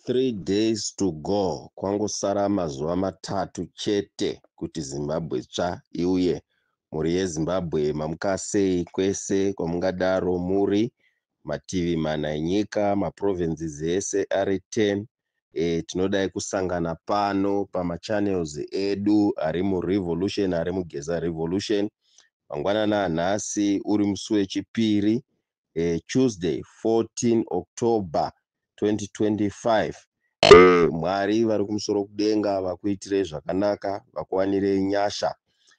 Three days to go kwangosara mazuva matatu chete kuti Zimbabwe tsva iuye. Mhuri yeZimbabwe mamukasei kwese kwamungadaro muri, mativi mana enyika, maprovinces ese ari 10 e, tinodai kusangana pano pamachannels edu ari murevolution ari mugeza revolution mangwanana anhasi uri musi wechipiri e, tuesday 14 october 2025 e, mwari vari kumusoro kudenga vakuitirei zvakanaka vakuwanirei nyasha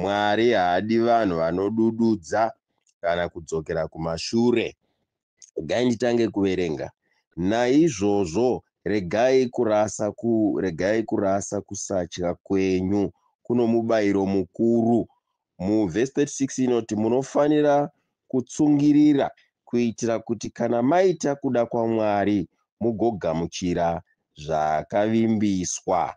Mwari haadi vanhu vanodududza kana kudzokera kumashure. Regai nditange kuverenga. Naizvozvo regai kurasa ku, regai kurasa kusatya kwenyu kuno mubairo mukuru. Mu verse 36 inoti munofanira kutsungirira kuitira kuti kana maita kuda kwaMwari mugogamuchira zvaakavimbiswa.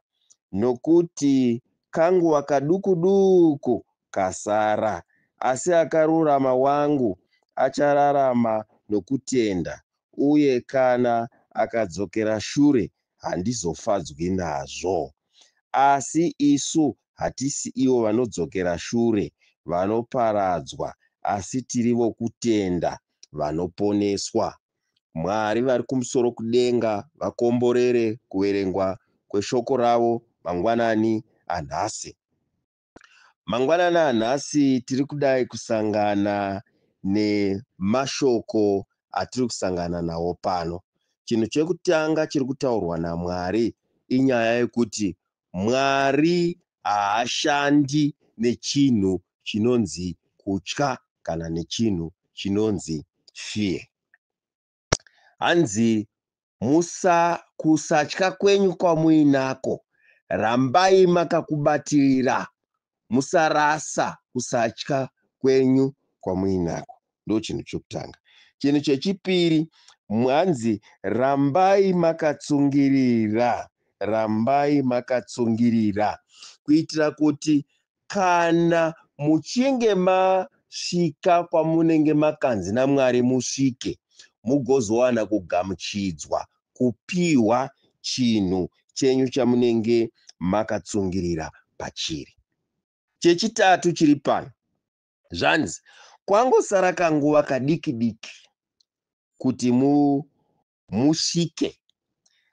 Nokuti kanguva kaduku duku kasara, asi akarurama wangu achararama nokutenda, uye kana akadzokera shure handizofadzwi nazvo. Asi isu hatisi ivo vanodzokera shure, vanoparadzwa, asi tiri vokutenda, vanoponeswa. Mwari vari kumusoro kudenga vakomborere kuverengwa kweshoko ravo mangwanani anhasi. Mangwanani anhasi tiri kudai kusangana nemashoko atiri kusangana nawo pano. Chinhu chekutanga chiri kutaurwa naMwari inyaya yekuti Mwari haashandi nechinhu chinonzi kutya kana nechinhu chinonzi fear. Hanzi musa kusatya kwenyu kwamuinako rambai makakubatirira musarasa kusatya kwenyu kwamuinako ndochinhu chokutanga. Chinhu chechipiri hanzi rambai makatsungirira rambai makatsungirira kuitira kuti Kana muchinge masvika kwamunenge makanzi naMwari musvike, mugozowana kugamuchidzwa, kupiwa, chinhu chenyu chamunenge makatsungirira pachiri. Chechitatu chiri pano, zvanzi, Kwangosara kanguva kadiki-diki kuti mu, musvike.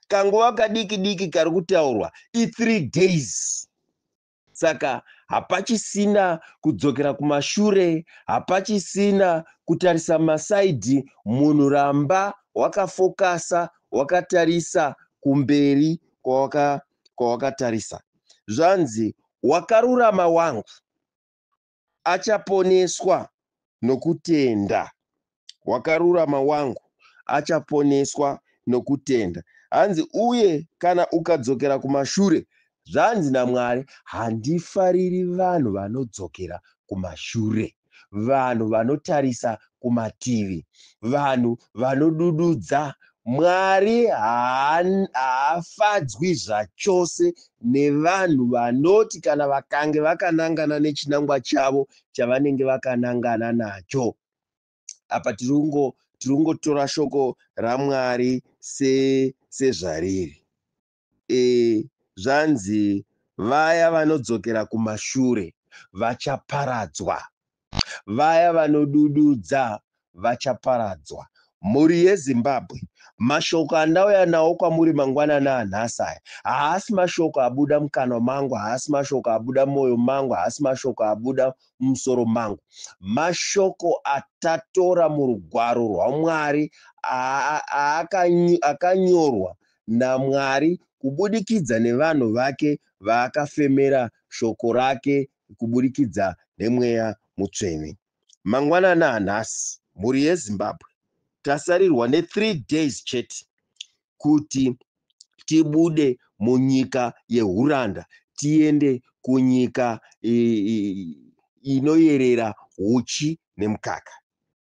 Kanguva kadiki-diki kari kutaurwa i three days. Saka hapachisina kudzokera kumashure, hapachisina kutarisa masaidhi, munhu ramba wakafokasa, wakatarisa kumberi kwawakatarisa. Zvanzi, wakarurama wangu, achaponeswa nokutenda. Wakarurama wangu achaponeswa nokutenda. Hanzi, uye kana ukadzokera kumashure, zvanzi naMwari, handifariri vanhu vanodzokera kumashure, vanhu vanotarisa kumativi, vanhu vanodududza Mwari haafadzwi zvachose nevanhu vanoti kana vakange vakanangana nechinangwa chavo chavanenge vakanangana nacho. Apa tiri kungotora shoko raMwari sezvariri. Eeh zvanzi vaya vanodzokera kumashure vachaparadzwa. Vaya vanodududza vachaparadzwa. Mhuri yeZimbabwe, mashoko andauya nawo kwamuri mangwanani anhasi aya haasi mashoko abuda mukanwa mangu, haasi mashoko abuda mumoyo mangu, haasi mashoko abuda mumusoro mangu. Mashoko atatora murugwaro rwaMwari akanyorwa naMwari kubudikidza nevanhu vake vaakafemera shoko rake kuburikidza nemweya mutsvene. Mangwanani anhasi mhuri yeZimbabwe tasarirwa ne three days chete kuti tibude munyika yehuranda tiende kunyika inoyerera huchi nemukaka.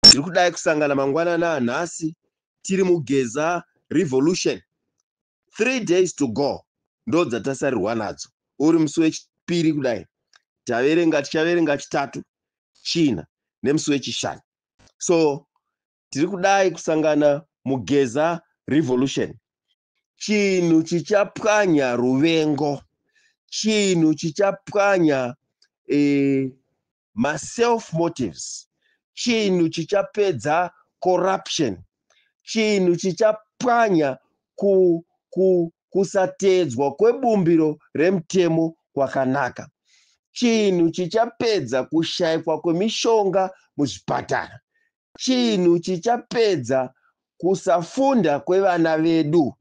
Tiri kudai kusangana mangwanani anhasi tiri mugeza revolution three days to go ndo dzatasarirwa nadzo uri musi wechipiri kudai taverenga tichaverenga chitatu china nemusi wechishanu so tiri kudai kusangana mugeza revolution chinhu chichapwanya ruvengo chinhu chichapwanya eh, ma self motives chinhu chichapedza corruption chinhu chichapwanya ku ku kusateedzwa kwebumbiro remutemo kwakanaka chinhu chichapedza kushaikwa kwemishonga muzvipatara chinhu chichapedza kusafunda kwevana vedu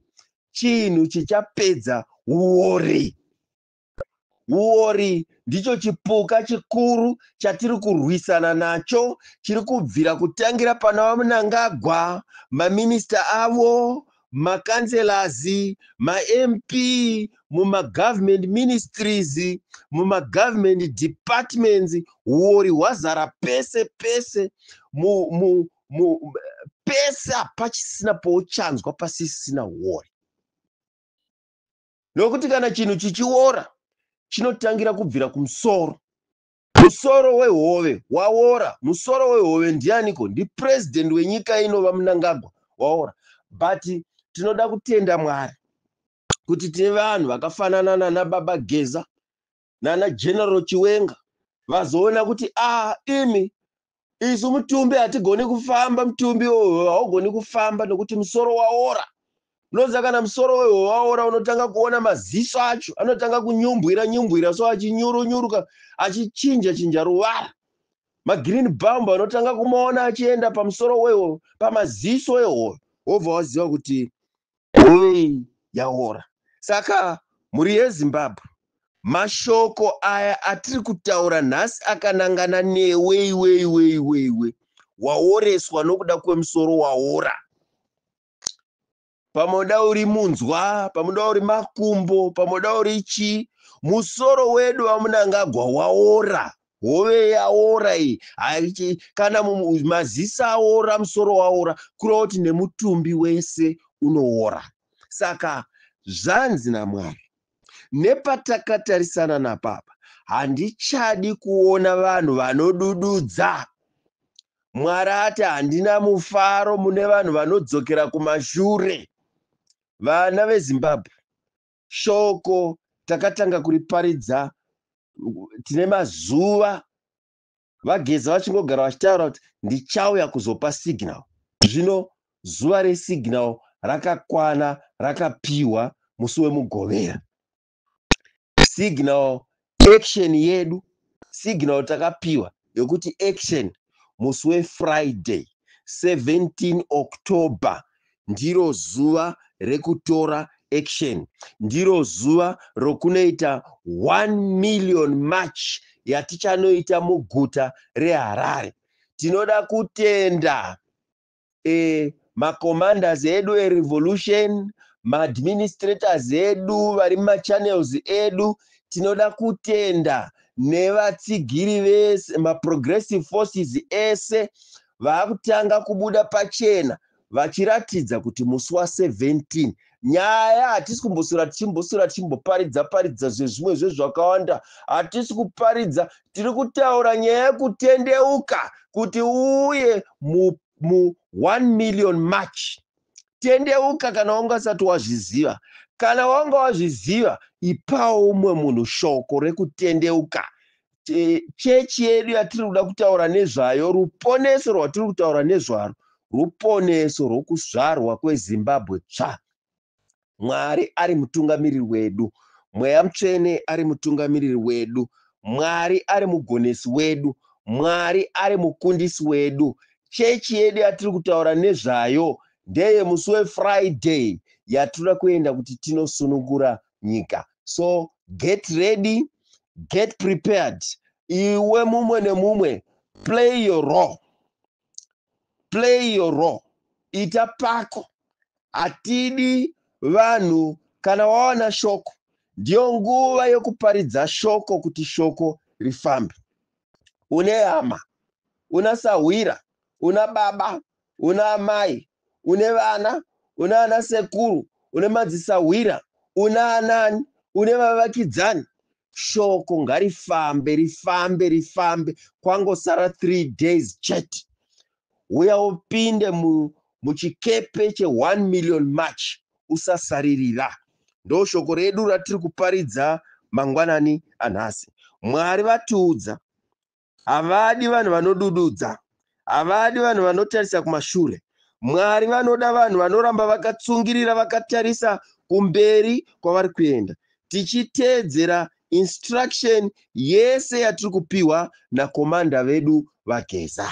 chinhu chichapedza uori Huori ndicho chipuka chikuru chatiri kurwisana nacho chiri kubvira kutangira pana Mnangagwa, maminista avo, maCouncillors, maMP, mumaGovernment Ministries, mumaGovernment Departments, huori hwazara pese pese mu, mu, mu, pese hapachisina pouchanzwa pasisina huori. Nokuti kana chinhu chichiora, chinotangira kubvira kumusoro. Musoro wehove waora. Musoro wehove ndianiko? NdiPresident wenyika ino VaMnangagwa waora. But tinoda kutenda Mwari kuti tine vanhu vakafanana nanaBaba Geza, nana general chiwenga vazoona kuti a ah, imi isu mutumbi hatigoni kufamba mutumbi wehohwe haugoni kufamba nokuti musoro waora unoziva kana musoro wehohwe waora unotanga kuona maziso acho anotanga kunyumbwira nyumbwira so achinyurunyuruka achichinja chinja ruvara magreen bumb anotanga kumaona achienda pamusoro wehohwe pamaziso ehohwe wobva waziva kuti Hove iyi yaora. Saka mhuri yeZimbabwe mashoko aya atiri kutaura nhasi akanangana newe iwe iwe iwe iwe waoreswa nokuda kwemusoro waora pamwe uda uri munzwa pamwe uda uri makumbo pamwe uda uri chii musoro wedu vamunangagwa waora hove yaora iyi haichi kana maziso aora musoro waora kureva kuti nemutumbi wese unoora saka zvanzi namwari nepatakatarisana napapa handichadi kuona vanhu vanodududza mwari ati handina mufaro mune vanhu vanodzokera kumashure vana vezimbabwe Shoko takatanga kuriparidza tine mazuva vageza vachingogara vachitaura kuti ndichauya kuzopa signal zvino zuva resignal rakakwana rakapiwa musi wemugovera signal action yedu signal takapiwa yokuti action musi wefriday 17 october ndiro zuva rekutora action ndiro zuva rokunoita 1 million march yatichanoita muguta reharare tinoda kutenda eh, macommanders edu erevolution maadministrators edu vari mumachannels edu tinoda kutenda nevatsigiri vese maprogressive forces ese vaakutanga kubuda pachena vachiratidza kuti musi wa 17 nyaya hatisi kumboswera tichimboswera tichimboparidza paridza zvezvimwe zvezvakawanda hatisi kuparidza tiri kutaura nyaya yekutendeuka kuti uye mu, mu 1 million march tendeuka kana wanga usati wazviziva kana wanga wazviziva ipawo umwe munhu shoko rekutendeuka chechi yedu yatiri kuda kutaura nezvayo ruponeso rwatiri kutaura nezvaro ruponeso rwokuzvarwa kwezimbabwe tsva mwari ari mutungamiriri wedu mweya mutsvene ari mutungamiriri wedu mwari ari mugonesi wedu mwari ari mukundisi wedu chechi yedu yatiri kutaura nezvayo ndeye musi wefriday yatinoda kuenda kuti tinosunungura nyika so get ready get prepared iwe mumwe nemumwe play your role play your role ita pako hatidi vanhu kana wawana shoko ndiyo nguva yokuparidza shoko kuti shoko rifambe une hama una sahwira una baba una amai une vana una ana sekuru une madzisahwira una anani une vavakidzani shoko ngarifambe rifambe rifambe kwangosara three days chete uya upinde mu, muchikepe che 1 million march usasaririra ndo shoko redu ratiri kuparidza mangwanani anhasi mwari vatiudza Havadi vanhu vanodududza. Havadi vanhu vanotarisa kumashure. Mwari vanoda vanhu vanoramba vakatsungirira vakatarisa kumberi kwavari kuenda tichiteedzera instruction yese yatiri kupiwa nakomanda vedu vaGeza.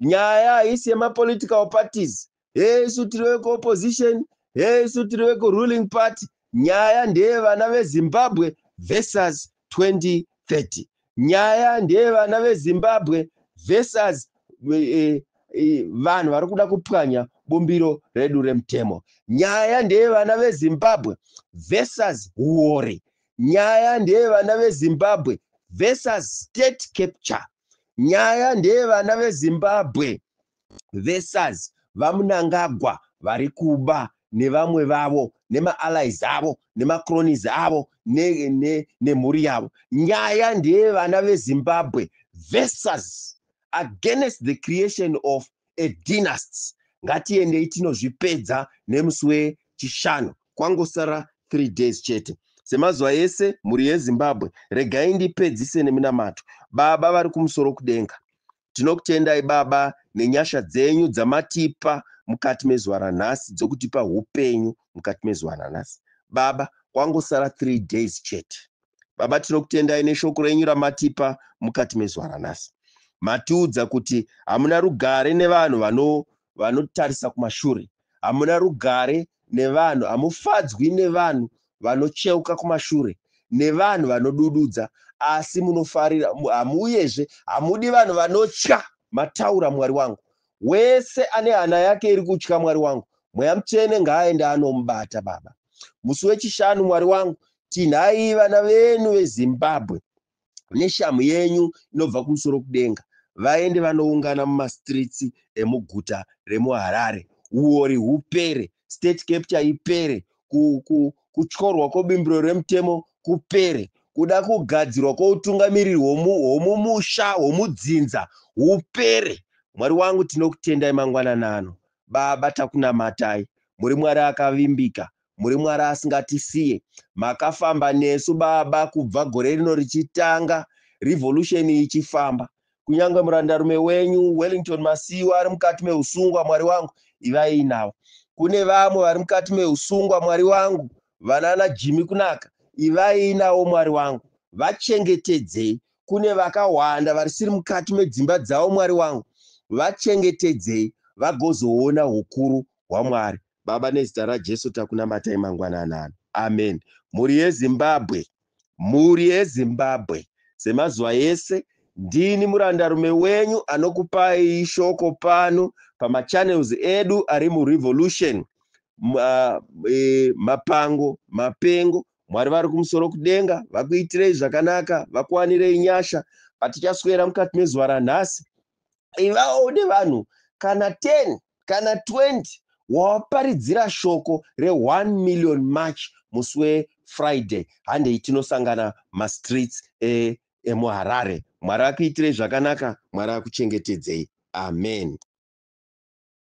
Nyaya haisi yema political parties, hee isu tiri veku opposition, hee isu tiri veku ruling party. Nyaya ndeye vana ve Zimbabwe versus 2030. Nyaya ndeye vana ve Zimbabwe versus eh, eh, vanhu vari kuda kupwanya bumbiro redu remutemo. Nyaya ndeye vana ve Zimbabwe versus huwori. Nyaya ndeye vana ve Zimbabwe versus state capture. Nyaya ndeye vana veZimbabwe versus VaMnangagwa vari kuba nevamwe vavo nemaallies avo nemacronies avo nemhuri ne, ne, ne yavo. Nyaya ndeye vana veZimbabwe versus against the creation of a dynasty. Ngatiendei tinozvipedza nemusi wechishanu. Kwangosara three days chete semazuva ese mhuri yezimbabwe regai ndipedzise neminamato baba vari kumusoro kudenga tinokutendai baba nenyasha dzenyu dzamatipa mukati mezuva ranhasi dzokutipa upenyu mukati mezuva ranhasi baba kwangosara three days chete baba tinokutendai neshoko renyu ramatipa mukati mezuva ranhasi matiudza kuti hamuna rugare nevanhu vanotarisa kumashure hamuna rugare nevanhu, hamufadzwi nevanhu vanocheuka kumashure, nevanhu vanodududza, asi munofarira, hamu, uyezve hamudi vanhu vanotya, mataura Mwari wangu. Wese ane hana yake iri kutya Mwari wangu, Mweya Mutsvene ngaaende anomubata, Baba. Musi weChishanu, Mwari wangu, tinhai vana venyu veZimbabwe. neshamhu yenyu inobva kumusoro kudenga vaende vanoungana mumastreets emuguta remuharare huori hupere state capture ipere kutyorwa kwebimbiro remutemo kupere kuda kugadzirwa kwoutungamiriri hwomumusha hwomudzinza hupere mwari wangu tinokutendai mangwanana ano baba takunamatai muri mwari akavimbika muri mwari asingatisiye makafamba nesu baba kubva gore rino richitanga revolution ichifamba kunyange murandarume wenyu wellington masiwa ari mukati meusungwa mwari wangu ivai inavo kune vamwe vari mukati meusungwa mwari wangu vanana jimi kunaka ivai inawo mwari wangu vachengetedzei kune vakawanda varisiri mukati medzimba dzavo mwari wangu vachengetedzei vagozoona ukuru hwamwari Baba nezita raJesu takunamatai mangwanani ano. Amen. Mhuri yeZimbabwe. Mhuri yeZimbabwe. Semazuva ese ndini murandarume wenyu anokupai shoko pano pamachannels edu ari muRevolution. Ma, e, mapango, mapengo. Mwari vari kumusoro kudenga vakuitirei zvakanaka, vakuwanirei nyasha. Patichaswera mukati mezuva ranhasi ivawo une vanhu kana 10 kana 20 wawaparidzira shoko re 1 million march musi wefriday handei tinosangana mastreets e, emuharare mwari akuitirei zvakanaka mwari akuchengetedzei amen